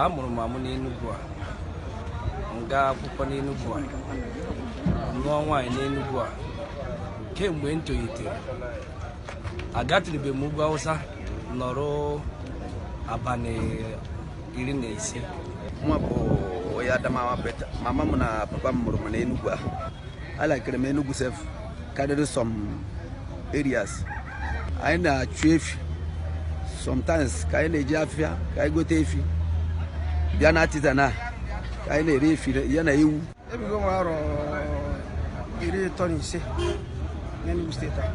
a mụrụ m amụ n'Enugu a m gaa akwụkwọ n'Enugu a nụọ nwaanyị n'Enugu a kemgbe m tolitere agatụrụbe m ugwu Awụsa nọrọ abalị iri na ise mụwa bụ onye Adamawa but mama m na papa m mụrụ m n'Enugu a alakịrị m Enugu sef karịrị some areas anyị na-achụ efi sometimes ka anyị na-eje afịa ka anyị gote efi bịa na Artisan a ka anyị na-ere efi ya na ewu ebigo m arọ iri ịtọ na ise n'Enugu steeti a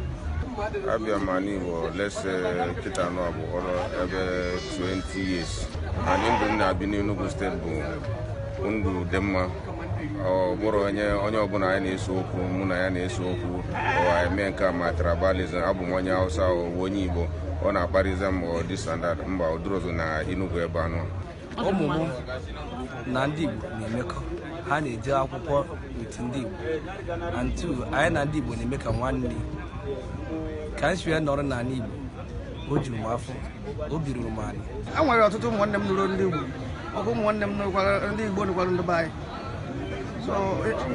abịa m ala Igbo let's say kịta anụ abụ ọrụ ebe 20 years and ndụ m na-ebi n'Enugu steeti bụ ndụ dị mma ọ bụrụ na onye ọbụla anyị na-ese okwu mụ na ya na-ese okwu o mee nke a ma tribalism abụ m onye Hausa ọ wụ onye Igbo ọ na-akparịzị m or this and that mba ọ dịrọzi na Enugu ebe a nọ ụmụ m na ndị Igbo na-emekọ ha na-eje akwụkwọ with ndị Igbo and two anyị na ndị Igbo na-eme ka nwanne ka m si wee nọrọ n'ala Igbo o juru m afọ obi ruru m ala e nwere ọtụtụ ụmụnne m nụrụ ndị Igbo ọkụ ụmụnne m nụrụkwara ndị Igbo nụkwara ndị be anyị so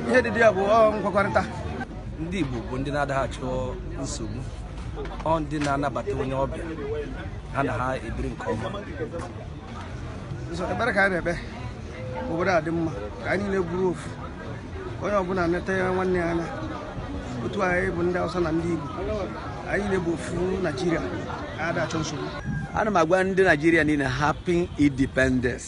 ihe dị dị ya bụ ọ nkwekọrịta ndị Igbo bụ ndị na-adaghị achọ nsogbu ọ ndị na-anabata onye ọbịa ha na ha ebiri nke ọma so ekpere ka anyị na-ekpe obodo a dị mma ka anyị niile bụrụ ofu onye ọbụla neta ya nwanne ya anya otu anyị bụ ndị Hausa na ndị Igbo anyị niile bụ ofu Naijiria ada achọ nsogbu ana m agwa ndị Naijiria niile happy independence